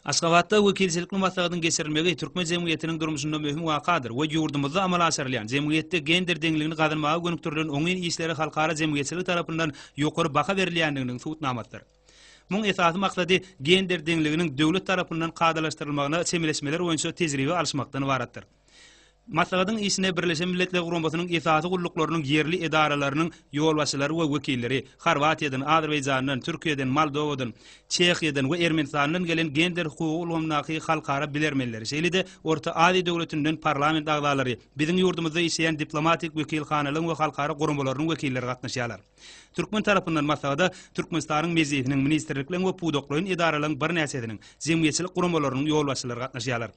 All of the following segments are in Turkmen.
Aşgabatda wekilçilikli maslahatyň geçirilmegi türkmen jemgyýetiniň durmuşynda möhüm wakadyr we ýurdumyzda amala aşyrylýan, jemgyýetde gender deňligini gazanmaga gönükdirilen oňyn işlere halkara jemgyýetçiligi tarapyndan ýokary baha berilýändiginiň subutnamasydyr. Muň esasy maksady gender deňliginiň döwlet tarapyndan kadalaşdyrylmagyna çemeleşmeler boýunça tejribe alyşmakdan ybaratdyr. Maslahatyň işine Birleşen Milletler Guramasynyň esasy gulluklarynyň ýerli edaralarynyň ýolbaşçylary we wekilleri, Horwatiýadan, Azerbaýjandan, Türkiýeden, Moldowadan, Çehiýadan we Ermenistandan gelen gender hukugy ulgamyndaky halkara bilermenleri, şeýle-de Orta Aziýa döwletinden parlament agzalary, biziň ýurdumyzda işleýän diplomatik wekilhanalaryň we halkara guramalarynyň wekilleri gatnaşýarlar. Türkmen tarapyndan maslahata Türkmenistanyň Mejlisiniň, ministrlikleriň we pudaklaýyn edaralaryň birnäçesiniň, jemgyýetçilik guramalarynyň ýolbaşçylary gatnaşýarlar.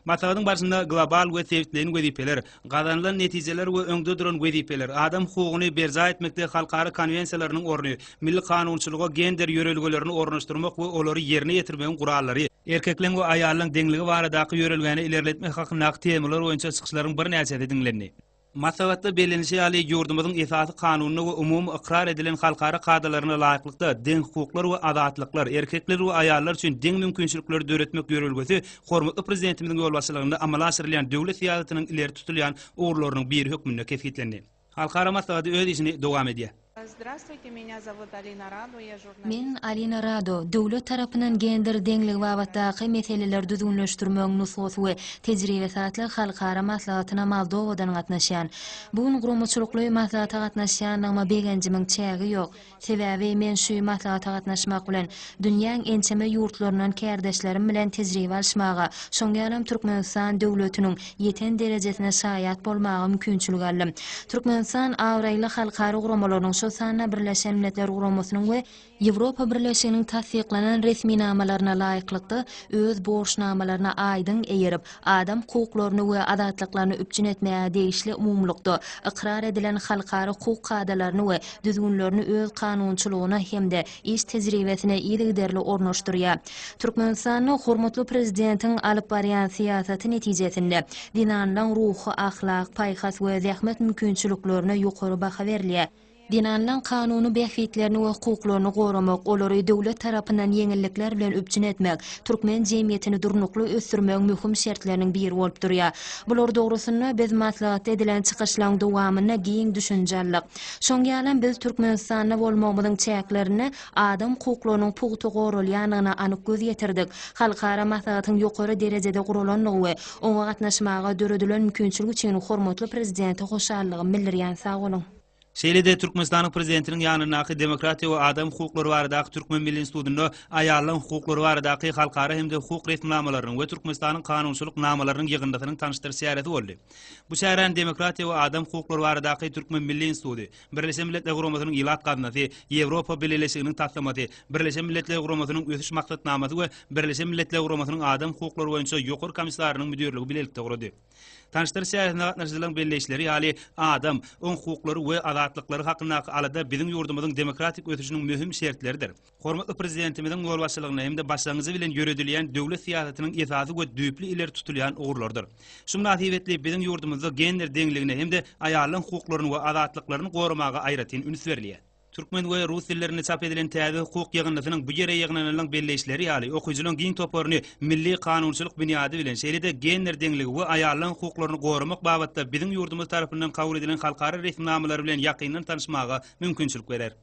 Maslahatyň barşynda global we sebitleýin wezipeler, gazanylan netijeler we öňde duran wezipeler, adam hukugyny berjaý etmekde halkara konwensiýalarynyň orny, milli kanunçylyga gender ýörelgelerini ornaşdyrmak we olary ýerine ýetirmegiň gurallary, erkekleň we aýallaryň deňligi baradaky ýörelgäni ilerletmek hakyndaky temalar boýunça çykyşlaryň birnäçesi diňlendi. Maslahatda bellenilişi ýaly, ýurdumyzyň Esasy Kanunyna we umumy ykrar edilen halkara kadalaryna laýyklykda, deň hukuklar we azatlyklar, erkekler we aýallar üçin deň mümkinçilikleri döretmek ýörelgesi hormatly Prezidentimiziň ýolbaşçylygynda amala aşyrylýan döwlet syýasatynyň ileri tutulýan ugurlarynyň biri hökmünde kesgitlendi. Halkara maslahaty öz işini dowam edýär. Zdravstwuyte, menya zowut Alina Rado, ya žurnalist. Men Alina Rado, döwlet tarapyndan gender deňligi babatdaky meseleleri düzgünleşdirmegiň nusgasy we tejribesi atly halkara maslahatyna Moldowadan gatnaşýan. Bu gün guramaçylykly maslahata gatnaşýandygyma begenjimiň çägi ýok. Sebäbi men şü maslahata gatnaşmak bilen, dünýäň ençeme ýurtlaryndan kärdeşlerim bilen tejribe alyşmaga, şoň ýalam Türkmenistan döwletiniň ýeten derejesine şaýat bolmaga mümkinçilik aldy. Türkmenistan abraýly halkara guramalarynyň, şol sanda Birleşen Milletler Guramasynyň we Ýewropa Birleşiginiň tassyklanan resminamalaryna laýyklykda, öz borçnamalaryna aýdyň eýerip, adam hukuklaryny we azatlyklaryny üpjün etmäge degişli umumylykda ykrar edilen halkara hukuk kadalaryny we düzgünlerini öz kanunçylygyna hem-de iş tejribesini yzygiderli ornaşdyrýar. Türkmenistanda hormatly Prezidentiň alyp barýan syýasaty netijesinde zenanlaryň ruhy-ahlak, paýhas we zähmet mümkinçiliklerine ýokary baha berilýär. Zenanlaryň kanuny bähbitlerini we hukuklaryny goramak, olary döwlet tarapyndan ýeňillikler bilen üpjün etmek türkmen jemgyýetini durnukly ösdürmegiň möhüm şertleriniň biri bolup durýar. Bular dogrusynda biz maslahatda edilen çykyşlaryň dowamynda giň düşünje aldyk. Şoň ýalam biz Türkmenistanda bolmagymyzyň çäklerinde adam hukuklarynyň pugta goralýandygyna anyk göz ýetirdik, halkara maslahatyň ýokary derejede guralandygy we oňa gatnaşmaga döredilen mümkinçilik üçin hormatly Prezidente hoşallygym bildirýän sag boluň. Şeýle-de Türkmenistanyň Prezidentiniň ýanyndaky Demokratiýa we adam hukuklary baradaky Türkmen milli institutynda aýallaryň hukuklary baradaky halkara hem-de hukuk resminamalarynyň we Türkmenistanyň kanunçylyk namalarynyň ýygyndysynyň tanyşdyryş çäresi boldy. Bu çäräni Demokratiýa we adam hukuklary baradaky Türkmen milli instituty, Birleşen Milletler Guramasynyň Ilat gaznasy, Ýewropa Bileleşiginiň taslamasy, Birleşen Milletler Guramasynyň Ösüş maksatnamasy we Birleşen Milletler Guramasynyň Adam hukuklary boýunça Ýokary komissarynyň müdirligi bilelikde gurady. Tanyşdyryş çäresine gatnaşyjylaryň belleýişleri ýaly, adam, oň hukuklary we azatlyklary hakyndaky alada biziň ýurdumyzyň demokratik ösüşiniň möhüm şertleridir. Hormatly Prezidentimiziň ýolbaşçylygynda hem-de başlangyjy bilen ýöredilýän döwlet syýasatynyň esasy we düýpli ileri tutulýan ugurlarydyr. Şu mynasybetli biziň ýurdumyzda gender deňligine hem-de aýallaryň hukuklaryny we azatlyklaryny goramaga aýratyn üns berilýär. Türkmen we rus dillerinde çap edilen täze hukuk ýygyndysynyň bu ýere ýygnananlaryň belleýişleri ýaly, okyjylaryň giň toparyny milli kanunçylyk binýady bilen, şeýle-de gender deňligi we aýallaryň hukuklaryny goramak babatda biziň ýurdumyz tarapyndan kabul edilen halkara resminamalary bilen ýakyndan tanyşmaga mümkinçilik berer.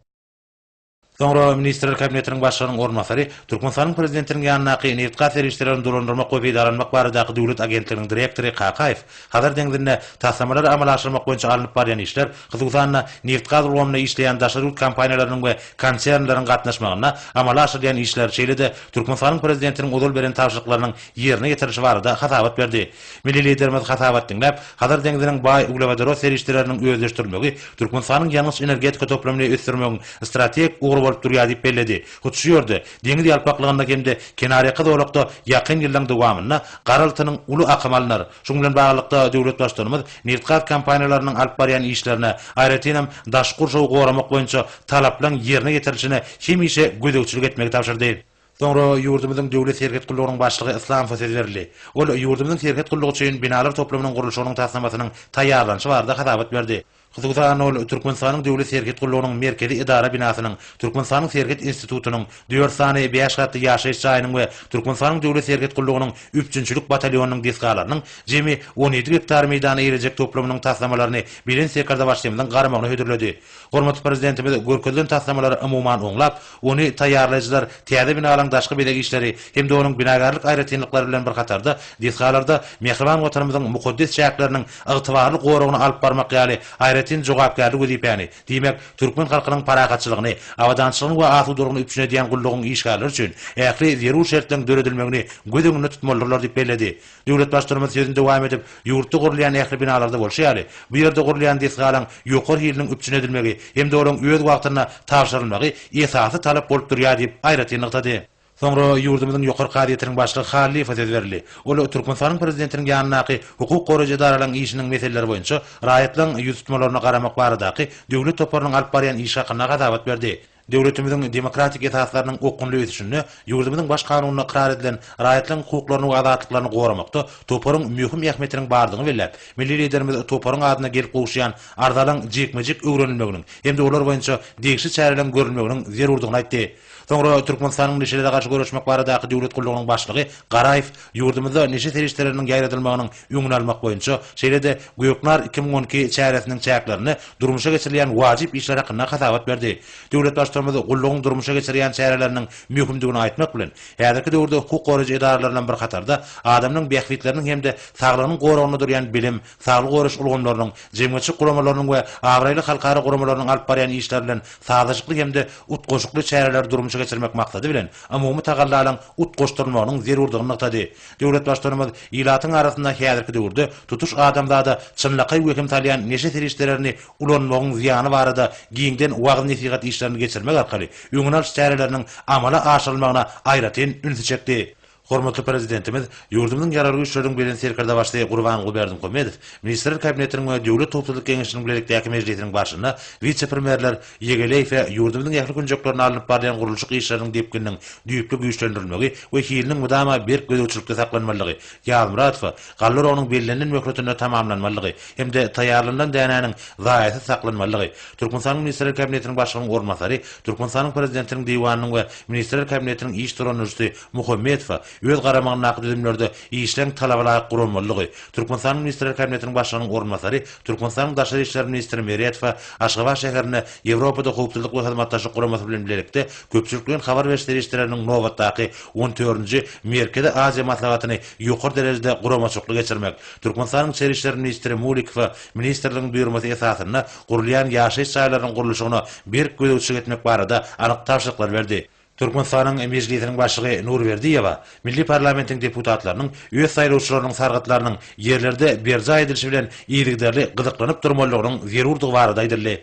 Soňra Ministrler Kabinetiniň Başlygynyň orunbasary Türkmenistanyň Prezidentiniň ýanyndaky Nebitgaz serişdelerini dolandyrmak we peýdalanmak baradaky döwlet agentliginiň direktory Kakaýew Hazar deňzinde taslamalary amala aşyrmak boýunça alnyp barýan işler, hususan-da, nebitgaz ulgamynda işleýän daşary ýurt kompaniýalarynyň we konsernleriň gatnaşmagynda amala aşyrylýan işler, şeýle-de Türkmenistanyň Prezidentiniň ozal beren tabşyryklarynyň ýerine ýetirilişi barada hasabat berdi. Milli Liderimiz hasabat diňläp, Hazar deňziniň baý uglewodorod serişdeleriniň özleşdirilmegi Türkmenistanyň ýangyç-energetika toplumyny ösdürmegiň strategik ugry bolup durýar diýip belledi. Hut şu ýerde, deňiz ýalpaklygynda hem-de kenarýaka zolakda ýakyn ýyllaryň dowamynda gara altynyň uly akymy alnar. Şunuň bilen baglylykda, döwlet Baştutanymyz nebitgaz kompaniýalarynyň alyp barýan işlerine, aýratynam, daşky gurşawy goramak boýunça talaplaryň ýerine ýetirilişine hemişe gözegçilik etmegi tabşyrdy. Soňra ýurdumyzyň Döwlet serhet gullugynyň başlygy Islamsow söz berildi. Ol ýurdumyzyň serhet gullugy üçin binalar toplumynyň gurluşygynyň taslamasynyň taýýarlanyşy barada hasabat berdi. Hususan, ol Türkmenistanyň Döwlet serhet gullugynyň Merkezi edara binasynyň, Türkmenistanyň Serhet institutynyň, dört sany bäş gatly ýaşaýyş jaýynyň we Türkmenistanyň Döwlet serhet gullugynyň üpjünçilik batalýonynyň desgalarynyň jemi on ýedi gektar meýdana eýlejek toplumynyň taslamalaryny Belent Sekardabaşlymyzyň garamagyna hödürledi. Hormatly Prezidentimiz görkezilen taslamalary umuman oňlap, ony taýýarlaýjylar täze binalaryň daşky bezeg işleri hem-de onuň binagärlik aýratynlyklary bilen bir hatarda desgalarda mähriban Watanymyzyň mukaddes çäkleriniň ygtybarly goragyny alyp barmak ýaly aýratyn jogapkärli wezipäni, diýmek, türkmen halkynyň parahatçylygyny, abadançylygyny we asudalygyny üpjün edýän gullugyň işgärleri üçin ähli zerur şertleriň döredilmegini göz öňünde tutmalydyrlar diýip belledi. Döwlet Baştutanymyz sözüni dowam edip, ýurtda gurulýan ähli binalarda bolşy ýaly, bu ýerde gurulýan desgalaryň ýokary hiliniň üpjün edilmegi hem-de olaryň öz wagtynda tabşyrylmagy esasy talap bolup durýar diýip, aýratyn nygtady. Soňra ýurdumyzyň Ýokary kazyýetiniň başlygy Hallyýewe söz berildi. Ol Türkmenistanyň Prezidentiniň ýanyndaky hukuk goraýjy edaralaryň işiniň meseleleri boýunça raýatlaryň ýüztutmalaryna garamak baradaky döwlet toparynyň alyp barýan işi hakynda hasabat berdi. Döwletimiziň demokratik esaslarynyň okgunly ösüşinde, ýurdumyzyň Baş Kanunynda ykrar edilen raýatlaryň hukuklaryny we azatlyklaryny goramakda toparyň möhüm ähmiýetiniň bardygyny belläp, milli Liderimiz toparyň adyna gelip gowuşýan arzalaryň jikme-jik öwrenilmeginiň hem-de olar boýunça degişli çäreleriň görülmeginiň zerurdygyny aýtdy. Soňra Türkmenistanyň Neşelere garşy göreşmek baradaky döwlet gullugynyň başlygy Garaýew ýurdumyzda neşe serişdeleriniň ýaýradylmagynyň öňüni almak boýunça, şeýle-de Göknar iki müň on iki çäresiniň çäklerinde durmuşa geçirilýän wajyp işler hakynda hasabat berdi. Döwlet Baştutanymyz gullugyň durmuşa geçirýän çäreleriniň möhümdigini aýtmak bilen, häzirki döwürde hukuk goraýjy edaralar bilen bir hatarda adamlaryň bähbitleriniň hem-de saglygynyň goragynda durýan bilim, saglygy goraýyş ulgamlarynyň, jemgyýetçilik guramalarynyň we abraýly halkara guramalarynyň alyp barýan işleri bilen sazlaşykly hem-de utgaşykly çäreleri durmuşa geçirmek maksady bilen umumy tagallalaryň utgaşdyrylmagynyň zerurdygyny nygtady. Döwlet Baştutanymyz ilatyň arasynda häzirki döwürde tutuş adamzada çynlakaý wehim salýan neşe serişdelerini ulanmagyň zyýany barada giňden wagyz-nesihat işlerini geçirmek arkaly öňüni alyş çäreleriniň amala aşyrylmagyna aýratyn ünsi çekdi. Hormatly Prezidentimiz ýurdumyzyň Ýaragly Güýçleriniň Belent Serkerdebaşysy Gurbanguly Berdimuhamedow Ministrler Kabinetiniň we Döwlet howpsuzlyk geňeşiniň bilelikdäki mejlisiniň barşynda wise-premýerler Ýegeleýse, ýurdumyzyň ähli künjeklerinde alnyp barylýan gurluşyk işleriniň depgininiň düýpli güýçlendirilmegi we hiliniň mydama berk gözegçilikde saklanmalydygy, Ýazmyradowa, galla oragynyň bellenilen möhletinde tamamlanmalydygy hem-de taýýarlanylan dänäniň zaýasyz saklanmalydygy Türkmenistanyň Ministrler Kabinetiniň Başlygynyň orunbasary, Türkmenistanyň Prezidentiniň Diwanynyň we Ministrler Kabinetiniň iş dolandyryjysy Muhammedowa öz garamagyndaky düzümlerde işleýän talabalaýyk guramalydygy, Türkmenistanyň Ministrler Kabinetiniň Başlygynyň orunbasary Türkmenistanyň Daşary işler ministri Meredowa Aşgabat şäherinde Ýewropada Howpsuzlyk we Hyzmatdaşlyk Guramasy bilen bilelikde köpçülikleýin habar beriş serişdeleriniň nobatdaky on dördünji Merkezi Aziýa maslahatyny ýokary derejede guramaçykly geçirmek, Türkmenistanyň Içeri işler ministri Mulikowa ministrligiň buýurmasy esasynda gurulýan ýaşaýyş jaýlarynyň gurluşygyna berk gözegçilik etmek barada anyk tabşyryklary berdi. Türkmenistanyň Mejlisiniň Başlygy Nurberdiýewa milli parlamentiň deputatlarynyň öz saýlawçylarynyň sargytlarynyň ýerlerde berjaý edilişi bilen yzygiderli gyzyklanyp durmalydygynyň zerurdygy barada aýdyldy.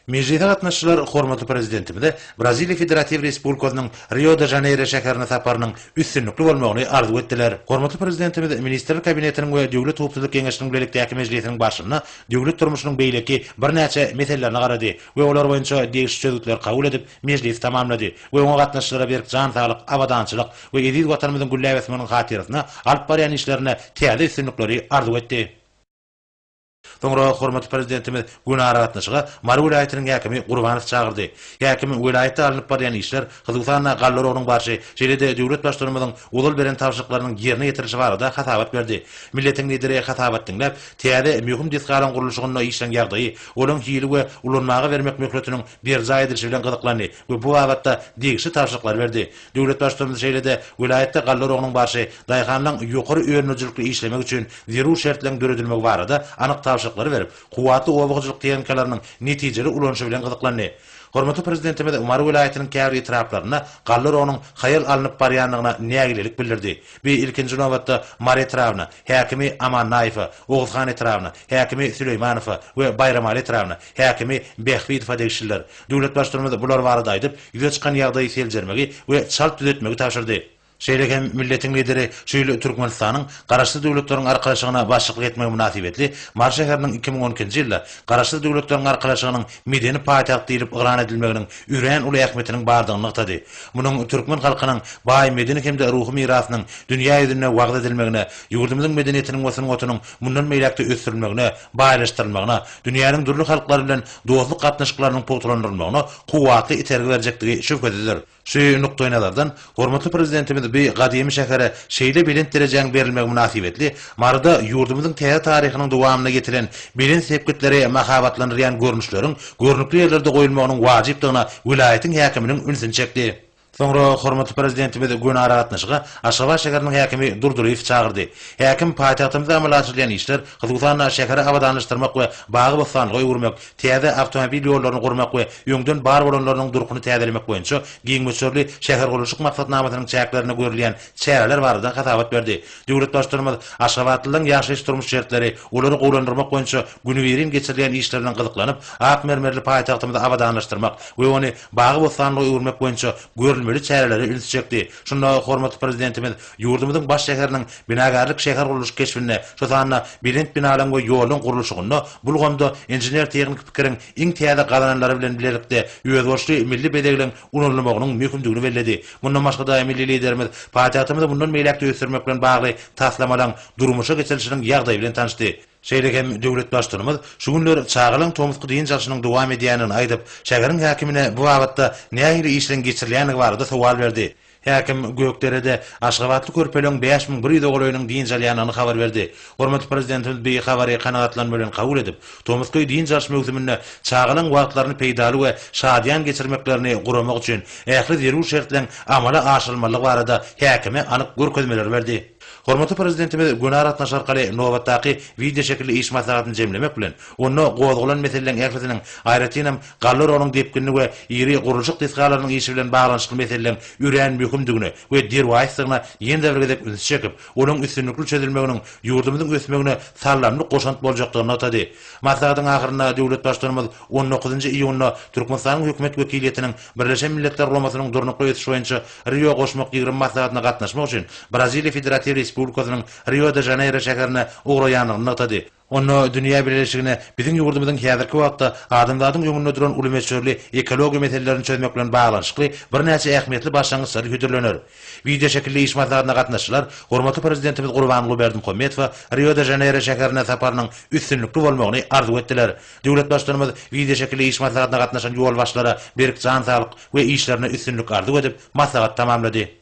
Mejlise gatnaşyjylar hormatly Prezidentimize Braziliýa Federatiw Respublikasynyň Rio-de-Žaneýro şäherine saparynyň üstünlikli bolmagyny arzuw etdiler. Hormatly Prezidentimiz Ministrler Kabinetiniň we Döwlet howpsuzlyk geňeşiniň bilelikdäki mejlisiniň barşynda döwlet durmuşynyň beýleki birnäçe meselelerine garady, we olar boýunça degişli çözgütleri kabul edip, mejlisi tamamlady we oňa gatnaşyjylara berk jan saglyk, abadançylyk we eziz Watanymyzyň gülläp ösmeginiň hatyrasyna alyp barýan işlerinde täze üstünlikleri arzuw etdi. Soňra hormatly Prezidentimiz güni aragatnaşyga Mary welaýatynyň häkimi Gurbanowy çagyrdy. Häkim welaýatda alnyp barýan işler, Hususan-da, galla oragynyň barşy, şeýle-de döwlet Baştutanymyzyň ozal beren tabşyryklarynyň ýerine ýetirilişi barada hasabat berdi. Milletiň Lideri hasabat diňläp, täze möhüm desgalaryň gurluşygynda işleň ýagdaýy, olaň hili we ulanmaga bermek möhletiniň berjaý edilişi bilen gyzyklandy we bu babatda degişli tabşyryklary berdi. Döwlet Baştutanymyz şeýle-de welaýatda galla oragynyň barşy, daýhanlaryň ýokary önümlijilikli işlemegi üçin zerur şertleň döredilmegi barada anyk tabşyryklary berip, kuwwatly oba hojalyk tehnikalarynyň netijeli ulanyşy bilen gyzyklandy. Hormatly Prezidentimiz Mary welaýatynyň käbir etraplarynda galla rogynyň haýal alnyp barýandygyna nägilelik bildirdi we ilkinji nobatda Mary etrabyna, häkimi Amannaýewe, Oguzhan etrabyna, häkimi Süleýmanowa we Baýramaly etrabyna, häkimi Bähbidowa degişlidir. Döwlet Baştutanymyz bular barada aýdyp, ýüze çykan ýagdaýy seljermegi we çalt düzetmegi tabşyrdy. Şeýle hem milletiň Lideri şu ýyl Türkmenistanyň Garaşsyz Döwletleriň Arkalaşygyna başlyklyk etmegi mynasybetli Mary şäheriniň iki müň on ikinji ýylda Garaşsyz Döwletleriň Arkalaşygynyň medeni paýtagt diýlip yglan edilmeginiň örän uly ähmiýetiniň bardygyny nygtady. Munuň türkmen halkynyň baý medeni hem-de ruhy mirasynyň dünýä ýüzünde wagyz edilmegine, ýurdumyzyň medeniýetiniň we sungatynyň mundan beýläk-de ösdürilmegine, baýlaşdyrylmagyna, dünýäniň dürli halklary bilen dostluk gatnaşyklarynyň pugtalandyrylmagyna kuwwatly itergi berjekdigi şübhesizdir. Şu nukdaýnazardan, hormatly Prezidentimiz bu gadymy şähere şeýle belent derejäň berilmegi mynasybetli Maryda ýurdumyzyň täze taryhynyň dowamynda ýetilen belent sepgitleri mahabatlandyrýan görnüşleriň görnükli ýerlerde goýulmagynyň wajypdygyna welaýatyň häkiminiň ünsüni çekdi. Soňra hormatly Prezidentimiz göni aragatnaşyga Aşgabat şäheriniň häkimi Durdylyýewi çagyrdy. Häkim paýtagtymyzda amala aşyrylýan işler, hususan-da, şäheri abadanlaşdyrmak we bagy-bossanlyga öwürmek, täze awtomobil ýollaryny gurmak we öňden bar bolanlarynyň durkuny täzelemek boýunça giň möçberli şähergurluşyk maksatnamasynyň çäklerinde görülýän çäreler barada hasabat berdi. Döwlet Baştutanymyz aşgabatlylaryň ýaşaýyş-durmuş şertleri, olary gowulandyrmak boýunça günübirin geçirilýän işler bilen gyzyklanyp, ak mermerli paýtagtymyzy abadanlaşdyrmak we ony bagy-bossanlyga öwürmek boýunça görülmeli çärelere ünsi çekdi. Şunda hormatly Prezidentimiz Ýurdumyzyň baş şäheriniň binagärlik-şähergurluş keşbinde, şu sanda belent binalaryň we ýollaryň gurluşygynda bu ulgamda inžener-tehniki pikiriň iň täze gazananlary bilen bilelikde özboluşly milli bezegleň ulanylmagynyň möhümdigini belledi. Mundan başga-da, milli Liderimiz paýtagtymyzy mundan beýläk-de ösdürmek bilen bagly taslamalaryň durmuşa geçirilişiniň ýagdaýy bilen tanyşdy. Şeýle hem döwlet Baştutanymyz şu günler çagalaryň tomusky dynç alşynyň dowam edýändigini aýdyp, şäheriň häkimine bu babatda nähili işleriň geçirilýändigi barada sowal berdi. Häkim Gökderede aşgabatly körpeleň bäş müň bir ýüze golaýynyň dynç alýandygyny habar berdi. Hormatly Prezidentimiz bi habary kanagatlanma bilen kabul edip, tomusky dynç alyş möwsüminde çagalaň wagtlaryny peýdaly we şadyýan geçirmeklerini guramak üçin ähli zerur şertleň amala aşyrylmalydygy barada häkime anyk görkezmeleri berdi. Hormatly Prezidentimiz göni aragatnaşyk arkaly nobatdaky wideoşekilli iş maslahatyny jemlemek bilen, onda gozgalan meseleleň ählisiniň, aýratynam, Galler onuň depginli we iri gurluşyk desgalarynyň işi bilen baglanyşykly meseleleň örän möhümdigine we derwaýysdygyna ýene-de bir gezek ünsi çekip, olaň üstünlikli çözülmeginiň ýurdumyzyň ösmegine saldamly goşant boljakdygyny nygtady. Maslahatyň ahyrynda döwlet Baştutanymyz on dokuzynjy iýunda Türkmenistanyň Hökümet wekiliýetiniň Birleşen Milletler Guramasynyň Durnukly ösüş boýunça Rio goşmak ýigrimi maslahatyna gatnaşmak üçin Braziliýa Federatiw Respublikasynyň Rio-de-Žaneýro şäherine ugraýandygyny nygtady. Onda dünýä bileleşigine biziň ýurdumyzyň häzirki wagtda adamzadyň öňünde duran uly möçberli ekologiýa meselelerini çözmek bilen baglanyşykly birnäçe ähmiýetli başlangyçlary hödürlener. Wideoşekilli iş maslahatyna gatnaşyjylar hormatly Prezidentimiz Gurbanguly Berdimuhamedowa Rio-de-Žaneýro şäherine saparynyň üstünlikli bolmagyny arzuw etdiler. Döwlet Baştutanymyz wideoşekilli iş maslahatyna gatnaşan ýolbaşçylara berk jan saglyk we işlerine üstünlik arzuw edip, maslahaty tamamlady.